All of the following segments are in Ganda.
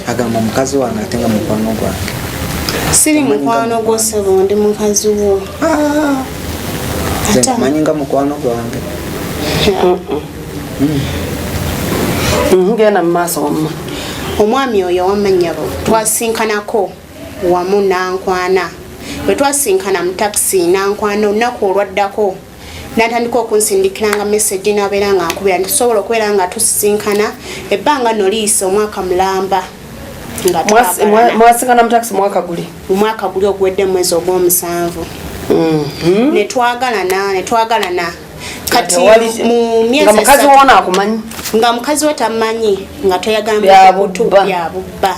agamba mukazi wange ate nga mukwano gwange siri mukwano gwo sebo ndi mukazi wo ah. manyi nga mukwano gwange ngenda mu maaso wamma omwami oyo wamanyabo twasinkanako wamu nankwana bwe twasinkana mu takisi nankwana olunaku olwaddako natandika okunsindikiranga message nabeera nga nkubira nti tusobola okubeera nga tusisinkana ebbanga no liyisa omwaka mulamba mwasinkana mutakisi mwaka guli omwaka guli oguwedde mwezi ogwomusanvu mhm. netwagalana netwagalana kati mu myezi mukazi wona akumanyi nga mukazi we tamanyi nga toyagala bya bubba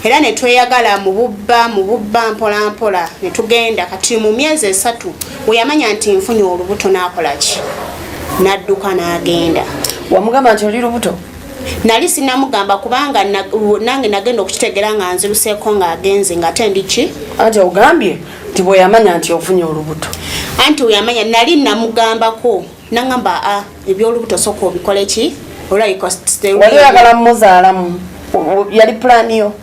era ne tweyagala mu bubba mu bubba mpola mpola ne tugenda kati mu myezi esatu we yamanya nti nfunye olubuto n'akola ki n'adduka n'agenda wamugamba nti oli lubuto nali sinamugamba kubanga nange nagenda okukitegera nga nziruseeko ng'agenze nga ate ndi ki anti ogambye nti bweyamanya nti ofunye olubuto anti weyamanya nali namugambako nangamba a ah, ebyolubuto soka obikole ki olwayikowali oyagala mumuzaalamu yali pulaani yo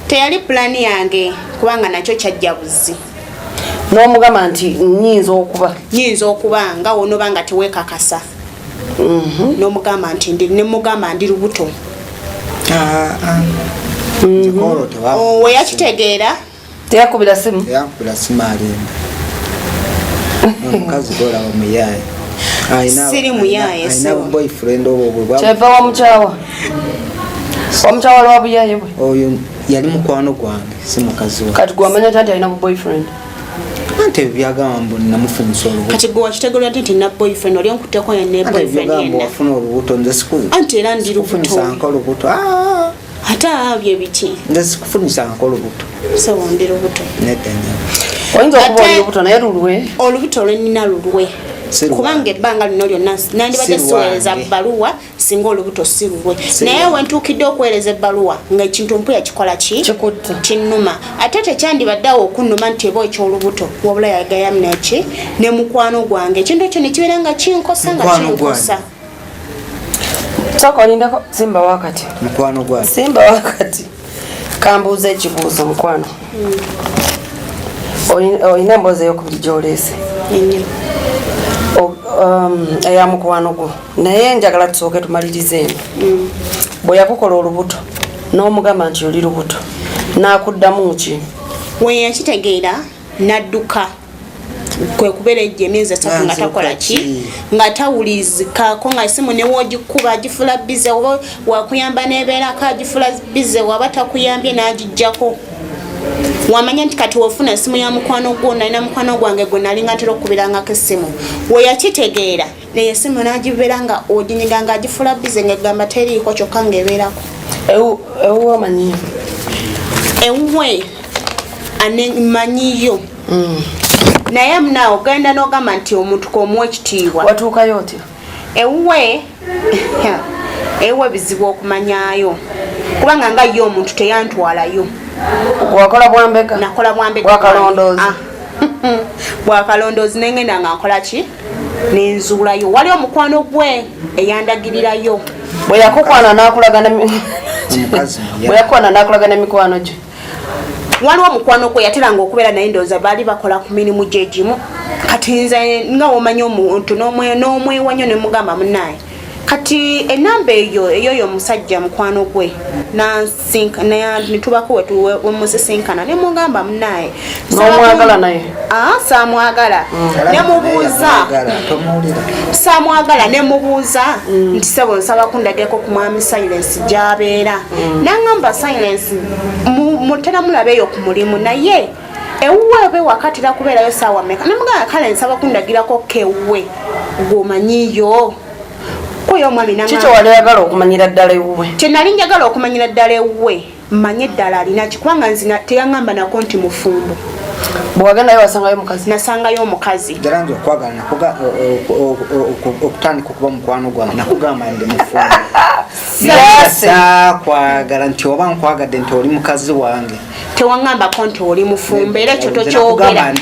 teyali pulaani yange kubanga nakyo kyajja buzzi nomugamba nti nyinza okuba nyinza okuba nga wonoba nga tewekakasa mhm. nomugamba nti nemugamba ndi lubuto ah, ah. mm-hmm. oh, weyakitegeera teyakubira simu teyakubira simu alimba omukazi golaba muyaye siri muyaye alina boyfriend obwo bwe kyeva wamukyawa wamukyawa lwa buyaye bwe oyo yali mukwano gwange si mukazi wa kati gwamanya tanti alina boyfriend ante byagamba mbu namufunisa olubuto kati gwe wakitegera nti na boyfriend oli onkuteko ne boyfriend yena wafuna olubuto nze siku ante era ndi lubuto nsanka olubuto ah ate abyo ebiki nze sikufunisa nko lubuto sewondera obuto nedanya oyinza okuba oli lubuto naye lulwe olubuto lwenina lulwe kubanga ebbanga lino lyonna nandibadde siweereza bbaluwa singa olubuto si lulwe naye wentuukidde okuweereza ebbaluwa ngaekintu mpuya kikola ki kinnuma ate tekyandibadde awo okunnuma nti eba ekyolubuto wabula yagayamnaki ne mukwano gwange ekintu ekyo nekibeera nga kinkosa nga kinkosa Sooka olindako simba wakati mukwano gwa simba wakati kambuuza ekibuuzo mukwano olina emboozi eyokubiri gyoleese um, eya mukwano gwo naye njagala tusooke tumalirize eno mm. bwe yakukola olubuto n'omugamba nti oli lubuto n'akuddamu ki weyakitegeera n'adduka kwe kubeera ejja emyezi esatu nga takola ki nga tawulizikako nga esimu newogikuba agifula bize oba wakuyamba nebeerako agifula bize waba takuyambye n'agijjako wamanya nti kati wofuna esimu ya mukwano gwo nalina mukwano gwange gwe nalinga ntera okukubirangako essimu weyakitegeera naye esimu nagibeera nga oginyiga nga agifula bize nga gamba teriiko kyokka nga ebeerako ewuwe omanyi ewuwe anemanyiyo mm. naye mna ogenda nogamba nti omuntu komuwa ekitiibwa watuukayo otyo ewuwe ewuwe bizibu okumanyayo kubanga nga ye omuntu teyantwalayo wakola bwambega nakola bwambega bwakalondoozi ah. bwakalondoozi nengenda nga nkola ki nenzuulayo wali omukwano gwe eyandagirirayo bwe yakukwana nakulaga ne mikwano gye waliwo omukwano gwe yateranga okubeera naye ndowooza baali bakola ku mirimu gyegimu kati nze nga womanya omuntu n'omwewa nyo nemugamba munaye kati enamba eyo eyoyo omusajja mukwano gwe netubako wemusisinkana nemugamba munaye nomwagala naye ah, samwagala mm. nemubuuza samwagala nemubuuza mm. nti sebo nsaba kundageko ku mwami silence gyabeera mm. nangamba silence mutera mulabeeyo ku mulimu naye ewuwe oba ewaka atera kubeerayo saawa meka namugamba kale nsaba kundagirako kewuwe gwomanyiyo oyo omwami kiki wali oyagala okumanyira ddala ewuwe kyenali njagala okumanyira ddala ewuwe manye eddala alinaki kubanga nzina teyaŋamba nako nti mufumbo bwewagendayo wasangayo mukazi nasangayo omukazi jalanza okwagala okutandika okuba mukwano gwange nakugamba ndi mufumbo nasakwagala nti oba nkwagadde nti oli mukazi wange tewangambako nti oli mufumbo era ekyo tokyogera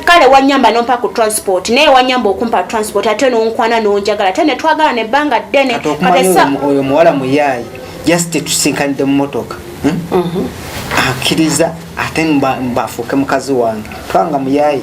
kale wanyamba nompa ku transport naye wanyamba okumpa transport ate nonkwana nonjagala ate netwagala nebbanga ddene oyo muwala muyayi just tusinkanidde mumotoka hmm? mhm. akiriza ate mbafuuke mukazi wange twanga muyayi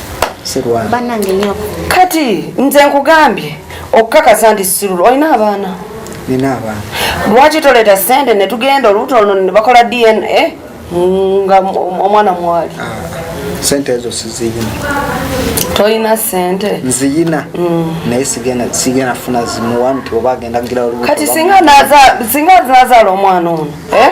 banange nyoko kati nze nkugambye okukakasa nti sirulu olina abaana nina abaana lwaki toleeta sente netugenda oluuto luno nebakola dna nga omwana mwali ah, sente ezo siziyina tolina sente nziyina mm. naye sigenda funa zimuwa nti oba agenda gira kati singa nazaala omwana ono eh?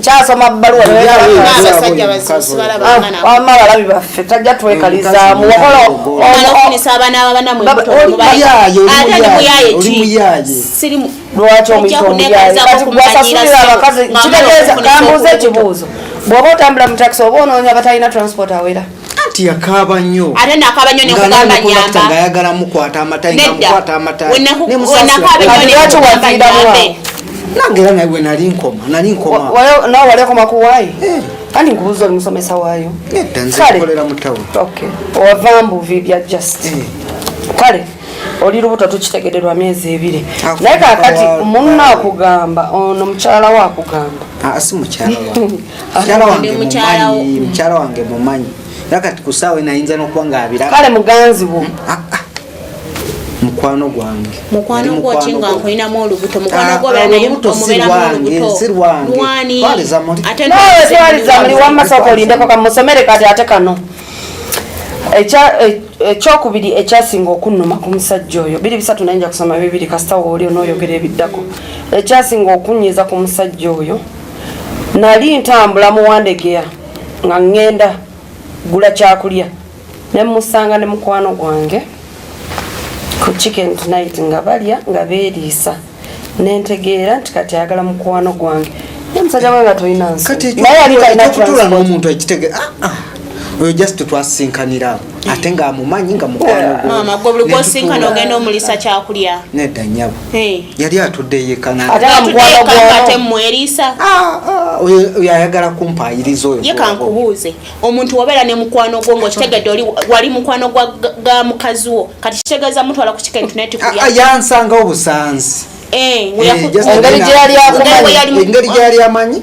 kyasoma bbaluwa abalabi baffe tajja twekalizaamu lwaki omuyaayeasasulira abakazi kitegeeza kambuuza ekibuuzo bw'oba otambula mu takisi oba onoonya batalina transport awera anti yakaaba nnyo ate nakaaba nnyo nekugamba nyamba nga ayagala mukwata amatayi nga mukwata amatayi ne musasiraambe nange era nawe nali nkoma nali nkoma nawe wali akoma ku wayi eh. kandi nkubuza oli musomesa waayo nedda nze nkolera mu tawuni okay owava mbuvi bya just eh. kale oli lubuto tukitegede lwa myezi ebiri naye kakati munna akugamba ono mukyala wakugamba ah, si mukyala mukyala wange mumanyi era kati ku saawa enayinza n'okuba ng'abira kale muganzi wo hmm? ah, ah. mukwano gwange mukwano gwoki nga nkulinamu olubuto mukwano ah, gwobeeranaolubutoatwaliza muli wamasooka olindeko kamusomere kati ate kano e, ekyokubiri ekyasinga okunnuma ku musajja oyo biri bisatu nayinja kusoma bibiri kasita wooli onooyogera ebiddako ekyasinga okunnyiza ku musajja oyo nali ntambula muwandegeya nga ŋŋenda gula kyakulya ne musanga ne mukwano gwange ku chicken tonight nga balya nga beeriisa nentegeera nti kati ayagala mukwano gwange omusajja gwe nga tolina nsi naye yali talina transport omuntu ekitegeera ah, ah. oyo just twasinkanira ate nga amumanyi nga mukwanomaama gwe buli gwosinkana ogenda omulisa kyakulya nedda nyabo yali atudde yekanatemweriisa ah, ah, oyo ayagala kumpaayiriza oyo ye kankubuuze omuntu wabeera ne mukwano gwo ngaokitegedde oli wali mukwano ga mukazi wo kati kitegeeza mutwala ku kika internetikuya ah, yansanga obusanzi eh, eh, engeri gyeyali amanyi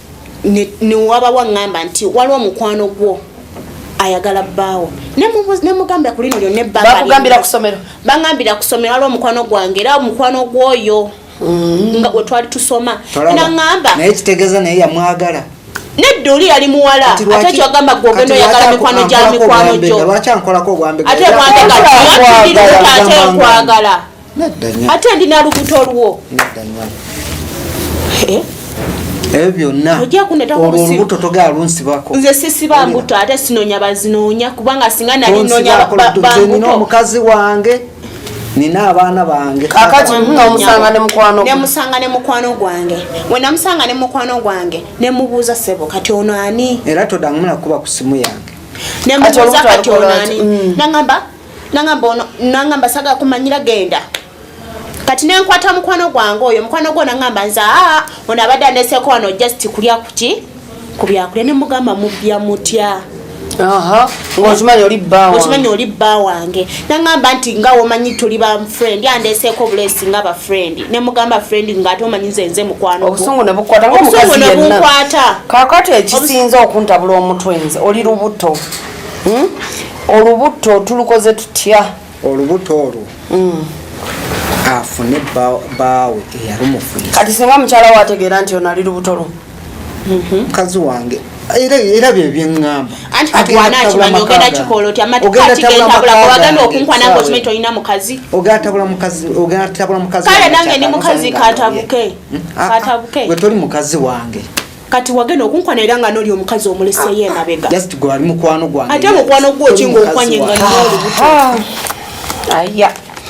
newabawo aŋŋamba nti waliwo omukwano gwo ayagala bbaawo nemugambira ku lino lyonna ebbangabakugambira ku somero baŋambira ku somero waliwo omukwano gwange era omukwano gw'oyo mm. nga gwe twali tusoma naŋamba naye kitegeeza naye yamwagala nedda oli yali muwala ate kyogamba gwe ogenda oyagala mikwano gya mikwano gyo ate mwambega ate nkwagala ate ndi nalubuto olwo eh? ebyo byonna olwo olubuto togala lunsibako nze sisiba mbuto ate sinonya bazinonya kubanga singa nali nonya nina omukazi wange nina abaana bange kakati nomusanga ne mukwano nemusanga ne mukwano gwange wenamusanga ne mukwano gwange nemubuuza sebo kati ono ani era todangumula kuba ku simu yange nemubuuza kati ono ani mm. nangamba nangamba ono nangamba saga kumanyira genda kati nenkwata mukwano gwange oyo mukwano gwo nangamba nze aa ono abadde andeseko wano just kulya kuki kubyakulya nemugamba mubya mutya ngaokimanyi oli bba okimanyi oli bba wange nangamba nti nga womanyi tuli ba friend andeseeko obulesi nga ba friend nemugamba friend ngaate omanyi nze nze mukwano obusungu nebukwata kakati ekisinza okuntabula omutwe nze oli lubuto hmm? olubutto tulukoze tutya olubutto olwo hmm. afune baawe eyalumufuye kati singa mukyala we ategeera nti onali lubuto lwo mhm. mukazi wange era byebyeamba ogenda tabula mukazi wange kati wagenda okunkwana era nga noli omukazi omuleseyo emabega ate mukwano gwokinga okwanye nga nina olubuto ah. ah. aya